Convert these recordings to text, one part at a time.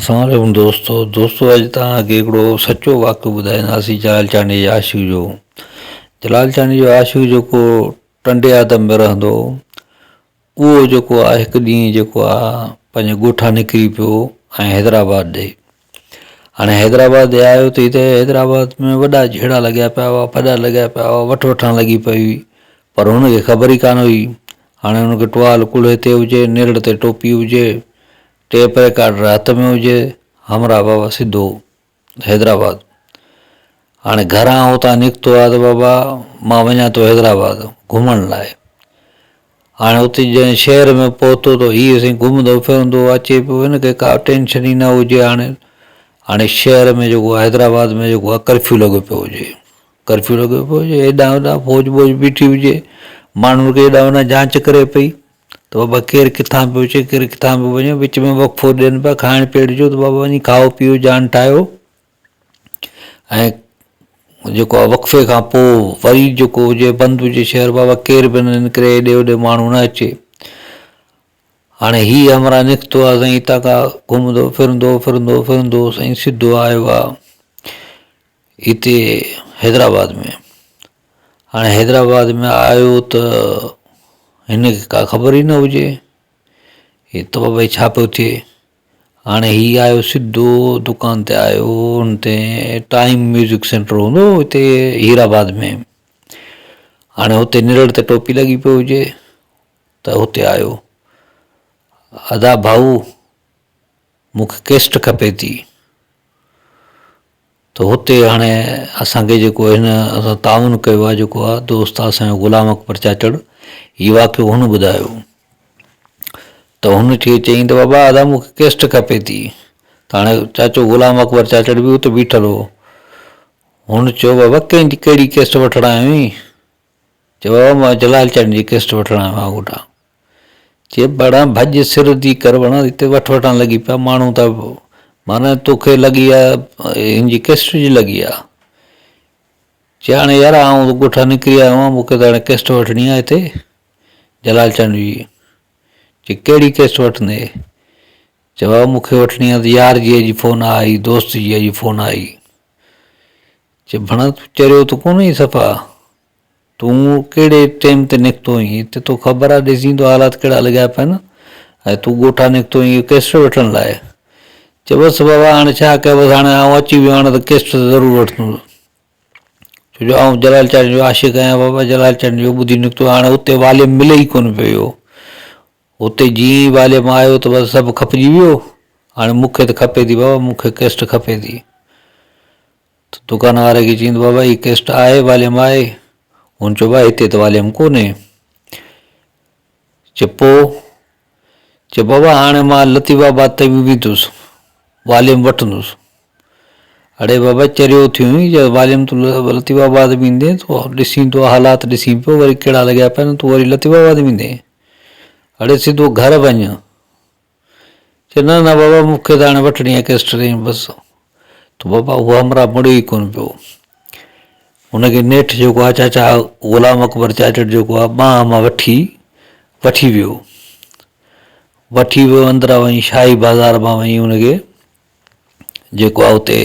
اسلام عليڪم دوستو دوستو اڄ توهان کي هڪڙو سچو واقعو ٻڌائينداسين جلال چانڊيي جي عاشق جو جلال چانڊيي جو عاشق جيڪو ٽنڊي آدم ۾ رهندو هو اهو جيڪو آهي هڪ ڏينهن جيڪو آهي پنهنجي ڳوٺان نڪري پيو ۽ حيدرآباد ڏي هاڻي حيدرآباد آيو ٿي ته حيدرآباد ۾ وڏا جهيڙا لڳيا پيا هئا، ڦڏا لڳيا پيا هئا، وٺ وٺان لڳي پئي هئي، پر هن کي خبر ئي ڪانه هئي. هاڻي هن کي ٽوال ڪلهي تي هجي، نرڙ تي ٽوپي هجي، ٽيپ ريڪارڊر هٿ ۾ هجي، همراهه بابا سڌو حيدرآباد. هاڻي گهران هتان نڪتو آ ته بابا مان وڃان ٿو حيدرآباد گهمڻ لاء. هاڻي اتي جڏهن شهر ۾ پهتو ته هيء سائين گهمندو ڦرندو اچي پيو، هن کي ڪا ٽينشن ئي نه هجي هاڻي. هاڻي شهر ۾ جيڪو آهي حيدرآباد ۾ جيڪو آهي ڪرفيو لڳو پيو هجي، ڪرفيو لڳو پيو هجي، هيڏانهن هوڏانهن فوج ٻوج بيٺي هجي، ماڻهن کي هيڏانهن هوڏانهن جانچ ڪري پئي ته بابا ڪير ڪٿان پيو اچي ڪير ڪٿان پيو وڃي، وچ ۾ وقفو ڏين پيا کائڻ پيئڻ جو ته بابا وڃي کائو پيئو جان ٺاهيو. ۽ جيڪو آهي وقفي کان پوء وري جيڪو هجي بند هجي شهر بابا ڪير به نه نڪري هيڏي هوڏي ماڻهو نه اچي هاڻي هي همراهه نڪتو آهي سائين هتان کان گهمندو ڦرندو ڦرندو ڦرندو سائين سڌو آيو آهي هتي حيدرآباد ۾ هاڻي حيدرآباد ۾ آيو ته هن کي ڪا خبر ئي نه هجي هي ته بابا هي ڇا پيو ٿئي هاڻي هي آيو سڌو دڪان تي آيو ان تي ٽائيم ميوزڪ سينٽر هوندو هو هتي هير آباد ۾ هاڻي هتي نرڙ تي ٽوپي لڳي پيو هجي ته هتي آيو ادا ڀائو مونکي ڪيسٽ کپي ٿي ته هتي هاڻي اسان کي جيڪو هن اسان تعاون ڪيو آهي جيڪو آهي ته استاد سائين غلام اڪبر چاچڙ هي واقعو هن ٻڌايو ته هن ٿي چيائين ته بابا ادا مون کي ڪيسٽ کپي ٿي ته هاڻي چاچو غلام اڪبر چاچڙ به اتي بيٺل هو هن چيو بابا ڪنهن جي ڪهڙي ڪيسٽ وٺڻ آيو آهين چئو آء مئو جلال چڙن جي قسط وٺڻ آيو آهيان هوڏانهن. چئي ڀڙا ڀڄ سر ڌي ڪر ڀڙا هتي وٺ وٺان لڳي پيا ماڻهو ته معنيٰ توکي لڳي آهي هن جي قسط جي لڳي آهي. چئي هاڻي يار آئون ته ڳوٺان نڪري آيو آهيان مون کي ته هاڻي قسط وٺڻي آهي هتي جلال چڙن جي. چئي ڪهڙي قسط وٺندين؟ چئو آء مون کي وٺڻي آهي ته يار جيء جي فون آئي دوست جيء جي فون آئي. چي ڀڻا تون چريو ته ڪونه آهين صفا، تون ڪهڙي ٽيم تي نڪتو آهين هتي توکي خبر آهي ڏسين ته حالات ڪهڙا لڳا پيا آهن ۽ تون ڳوٺان نڪتو آهين اهو ڪيسٽ وٺڻ لاء؟ چي بس بابا هاڻي ڇا ڪيان بس هاڻي آئون اچي ويو هاڻي ته ڪيسٽ ته ضرور وٺندس ڇو جو آئون جلال چاچڙي جو عاشق آهيان بابا جلال چاچڙي جو ٻڌي نڪتو آهيان هاڻي اتي واليم ملي ئي ڪونه پيو اهو هتي جيئن ئي واليم آيو ته بس سڀ کپجي ويو هاڻي مون کي ته کپي ٿي بابا مون کي ڪيسٽ کپي ٿي ته دڪان واري کي چيائين ته بابا هي ڪيسٽ آهي واليم آهي هن چيو بابا هتي ته واليم ڪونهي چي پوء چي بابا هاڻي مان لطيف آباد تائين به ويندس واليم وٺندس اڙي بابا چريو ٿيو آهين جي واليم تون لطيف آباد ويندين تون ڏسين تون حالات ڏسين پيو وري ڪهڙا لڳيا پيا آهن تون وري لطيف آباد ويندين هاڙي سڌو گهر وڃ. چيو نه نه بابا مون کي ته هاڻي وٺڻي آهي ڪيسٽرين بس. ته بابا هو همراهه مڙي ئي ڪونه پيو. هن کي نيٺ جيڪو آهي چاچا غلام اڪبر چاچڙ جيڪو آهي ٻانهن مان وٺي وٺي ويو. وٺي ويو اندرا وئي شاهي بازار مان وئي هن کي جيڪو آهي اتي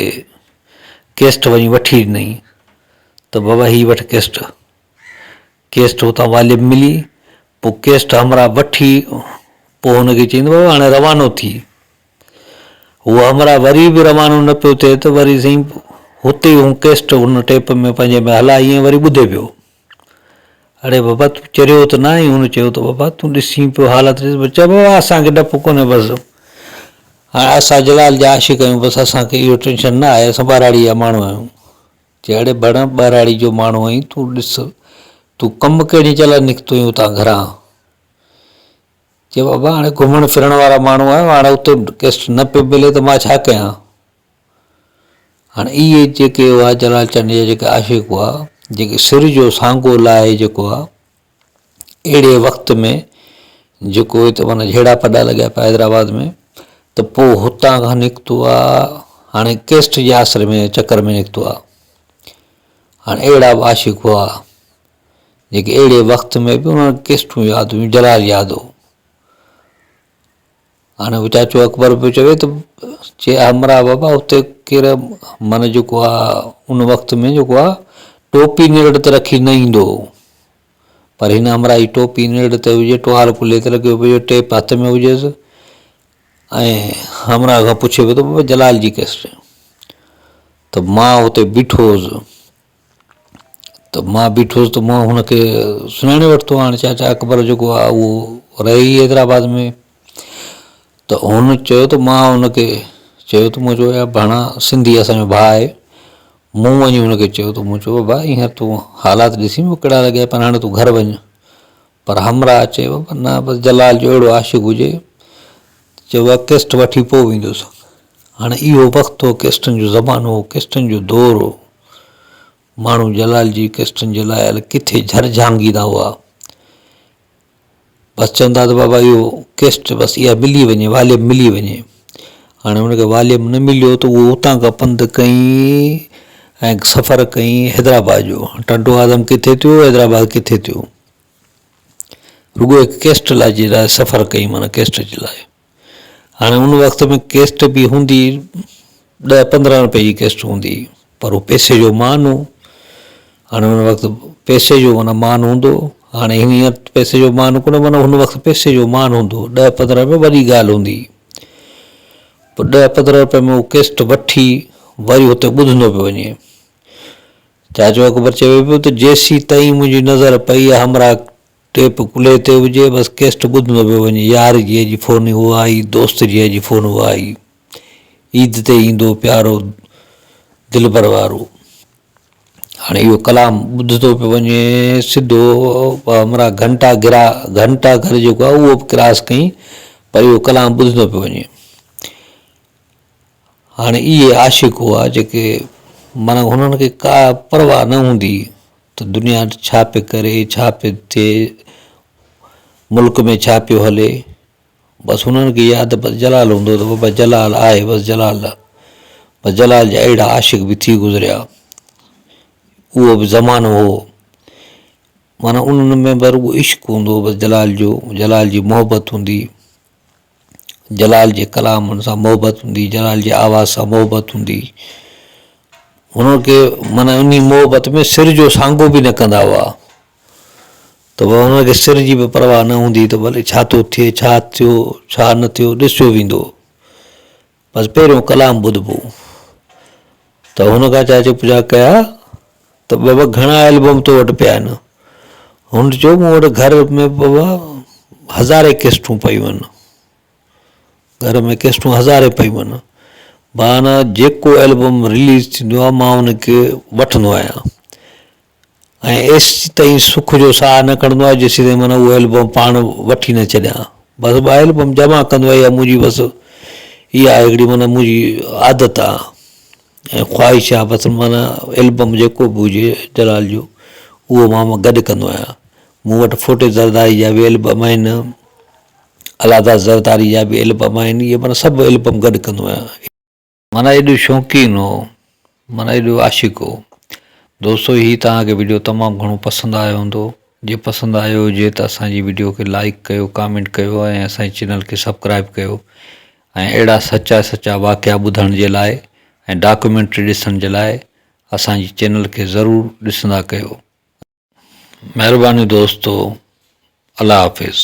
ڪيسٽ وئي وٺي ڏنئي ته بابا هي وٺ ڪيسٽ. ڪيسٽ اتان واليم ملي پوء ڪيسٽ همراهه وٺي پوء هن کي چيائين ته بابا هاڻي روانو ٿي. هو همراهه وري به روانو نه پيو ٿئي ته وري سائين هتي هو ڪيسٽ هن ٽيپ ۾ پنهنجي ۾ هلائي ۽ وري ٻڌي پيو. اڙي بابا تون چريو ته ناهين؟ هن چيو ته بابا تون ڏسين پيو حالت ڏس بس چئه بابا اسان کي ڊپ ڪونهي بس هاڻي اسان جلال جا عاشق آهيون بس اسان کي اهو ٽينشن نه آهي اسان ٻهراڙي جا ماڻهو آهيون جهڙي ڀڻ ٻهراڙي جو ماڻهو آهين تون ڏس تون ڪم ڪهڙي جي لاء نڪتو آهين اتان گهران؟ چي بابا هاڻي گهمڻ ڦرڻ وارا ماڻهو آهيون هاڻي اتي ڪيس نه پئي ملي ته مان ڇا ڪيان هاڻي اهي جيڪي هئا جلال چنيجا جيڪي عاشق هئا جيڪي سر جو سانگو لاهي جيڪو آهي اهڙي وقت ۾ جيڪو هي ته معنيٰ جهيڙا پڊا لڳيا پيا حيدرآباد ۾ ته پوء هتان کان نڪتو آ هاڻي ڪيسٽ جي آسري ۾ چڪر ۾ نڪتو آ هاڻي اهڙا به عاشق هئا جيڪي اهڙي وقت ۾ به انهن ڪيسٽون ياد هيون جلال ياد هو هاڻي هو چاچو اڪبر به چوي ته چي آء مرا بابا اتي ڪير معنيٰ جيڪو آ ان وقت ۾ جيڪو آ ٽوپي نرڙ تي رکي نه ايندو هو پر هن امرا جي ٽوپي نرڙ تي هجي ٽوال ڪلهي تي لڳيو پيو هجي ٽيپ هٿ ۾ هجيس ۽ همرا کان پڇي پيو ته بابا جلال جي ڪيسٽ ته مان اتي بيٺو هوس ته مان بيٺو هوس ته مان هن کي سڃاڻي ورتو آهي هاڻي چاچا اڪبر جيڪو آهي اهو رهي ئي حيدرآباد ۾ ته هن چيو ته مان هن کي چيو ته مون چيو يار ڀاڻا سنڌي اسانجو ڀاء آهي مون وڃي هن کي چيو ته مون چيو بابا هينئر تون حالات ڏسي مون کي ڪهڙا لڳيا پر هاڻي تون گهر وڃ پر همراهه چيو پر نه بس جلال جو اهڙو عاشق هجي چيو اها ڪيسٽ وٺي پوء ويندو سان هاڻي اهو وقت هو ڪيسٽن جو زمانو هو ڪيسٽن جو دور هو ماڻهو جلال جي ڪيسٽن جي لاء هل ڪٿي جھر جھانگيندا هئا بس چوندا ته بابا اهو ڪيسٽ بس اها ملي وڃي واليم ملي وڃي هاڻي هن کي واليم نه مليو ته اهو اتان کان پنڌ ڪئين ۽ سفر ڪئين حيدرآباد جو ٽنڊو آدم ڪٿي ٿيو حيدرآباد ڪٿي ٿيو رڳو هڪ ڪيسٽ لاء جي لاء سفر ڪئي معنيٰ ڪيسٽ جي لاء هاڻي ان وقت ۾ ڪيسٽ به هوندي ڏهه پندرهن رپئي جي ڪيسٽ هوندي هئي پر هو پئسي جو مان هو هاڻي ان وقت پئسي جو معنيٰ مان هوندو هو هاڻي هينئر پئسي جو مان ڪونه معنيٰ هن وقت پئسي جو مان هوندو هو ڏهه پندرهن رپيا وڏي ڳالهه هوندي هئي پوء ڏهه پندرهن رپئي ۾ هو ڪيسٽ وٺي وري هتي ٻڌندو پيو وڃي چاچو اڪبر چوي پيو ته جيسين تائين منهنجي نظر پئي يا همراهه ٽيپ ڪلهي تي هجي بس ڪيسٽ ٻڌندو پيو وڃي يار جي اڄ فون هو آئي دوست جي اڄ فون هو آئي عيد تي ايندو پيارو دلبر وارو هاڻي اهو ڪلام ٻڌندو پيو وڃي سڌو همراهه گهنٽا گرا گهنٽا گهر جيڪو آهي اهو به ڪراس ڪئين پر اهو ڪلام ٻڌندو پيو وڃي هاڻي اهي عاشق هئا جيڪي معنيٰ هنن کي ڪا پرواهه نه هوندي هئي ته دنيا ڇا پئي ڪري، ڇا پئي ٿئي، ملڪ ۾ ڇا پيو هلي، بس هنن کي يا ته بس جلال هوندو هو ته بس جلال آهي بس جلال. بس جلال جا اهڙا عاشق به ٿي گذريا. اهو به زمانو هو. معنيٰ انهن ۾ به رڳو عشق هوندو هو بس جلال جو، جلال جي محبت هوندي هئي. جلال جي ڪلام سان محبت هوندي جلال جي آواز سان محبت هوندي هن کي معنيٰ انهي محبت ۾ سر جو سانگو به نه ڪندا هئا ته بابا هن کي سر جي به پرواهه نه هوندي ته ڀلي ڇا ٿو ٿئي ڇا ٿيو ڇا نه ٿيو ڏسجو ويندو بس پهريون ڪلام ٻڌبو ته هن کان چاچي پڇا ڪيا ته بابا گهڻا البم تو وٽ پيا آهن هن چيو مون وٽ گهر ۾ بابا هزارين قسطون پيون آهن گهر ۾ قسطون هزارين پيون آهن معنيٰ جيڪو البم رليز ٿيندو آهي مان ان کي وٺندو آهيان ۽ ايستي تائين سک جو ساهه نه کڻندو آهي جيستي تائين من اهو البم پاڻ وٺي نه ڇڏيان بس ٻه البم جمع ڪندو آهي اها منهنجي بس اها هڪڙي من منهنجي عادت آهي ۽ خواهش آهي بس من البم جيڪو به هجي جلال جو اهو مان گڏ ڪندو آهيان مون وٽ ڦوٽي زرداري جا به البم آهن الهاداس زرداري جا به البم آهن اهي من سڀ البم گڏ ڪندو آهيان معنيٰ ايڏو شوقين هو معنيٰ ايڏو عاشق هو دوستو هي توهان کي وڊيو تمام گهڻو پسند آيو هوندو جي پسند آيو هجي ته اسان جي وڊيو کي لائيڪ ڪيو ڪامينٽ ڪيو ۽ اسان جي چينل کي سبڪرائيب ڪيو ۽ اهڙا سچا سچا واقعا ٻڌڻ جي لاء ۽ ڊاڪومينٽري ڏسڻ جي لاء اسان جي چينل کي ضرور ڏسندا ڪيو مهرباني دوستو الله حافظ.